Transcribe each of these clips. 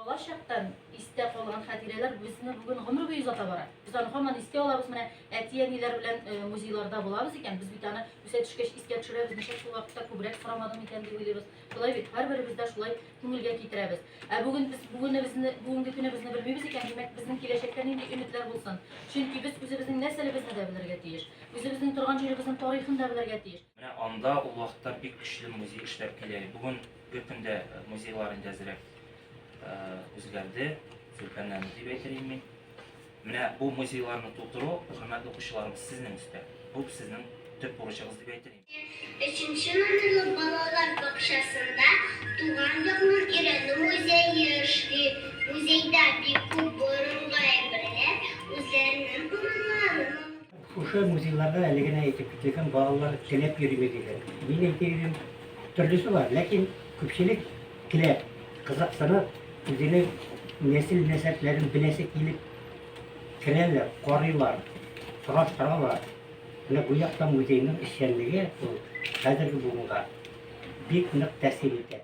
Бала чактан истә калган хатирәләр безне бүген гомер буе озата бара. Без аны һаман истә алабыз. Менә әти-әниләр белән э, музейларда булабыз икән, без бит аны үсә төшкәч искә төшерәбез, ничек шул вакытта күбрәк сорамадым икән дип уйлыйбыз. Шулай бит, һәрберебез дә шулай күңелгә китерәбез. Ә бүген без бүгенебезне, бүгенге көнебезне белмибез икән, димәк, безнең киләчәккә нинди өметләр булсын? Чөнки без үзебезнең нәрсәлебезне дә белергә тиеш. Үзебезнең торган җиребезнең тарихын да белергә тиеш. Менә анда ул вакытта бик көчле музей эшләп килә. Бүгенге көндә музейлар инде әзрәк үзгәрде, зөлкәнләнде дип әйтер идем мин. Менә бу музейларны тутыру, хөрмәтле укучыларыбыз, сезнең өстә. Бу сезнең төп бурычыгыз дип әйтер идем. Өченче номерлы балалар бакчасында Туган якның өйрәнү музее эшли. Музейда бик күп борынгы әйберләр, үзләренең урыннарын алып. Шушы музейларда әле генә әйтеп киткән балалар теләп йөрими диләр. Мин әйтер идем, төрлесе бар, ләкин күпчелек теләп, кызыксынып, үзенең нәсел-нәсәпләрен беләсе килеп керәләр, карыйлар, сораштыралар. Менә бу якта музейның эшчәнлеге ул хәзерге буынга бик нык тәэсир итә.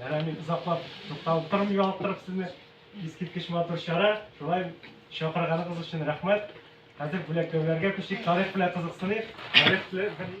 Ярай, мин озаклап тукталып тормый ялыктырып сезне. Искиткеч матур чара. Шулай чакырганыгыз өчен рәхмәт. Хәзер бүләкләүләргә күчик. Тарих белән кызыксыныйк. Тарих белән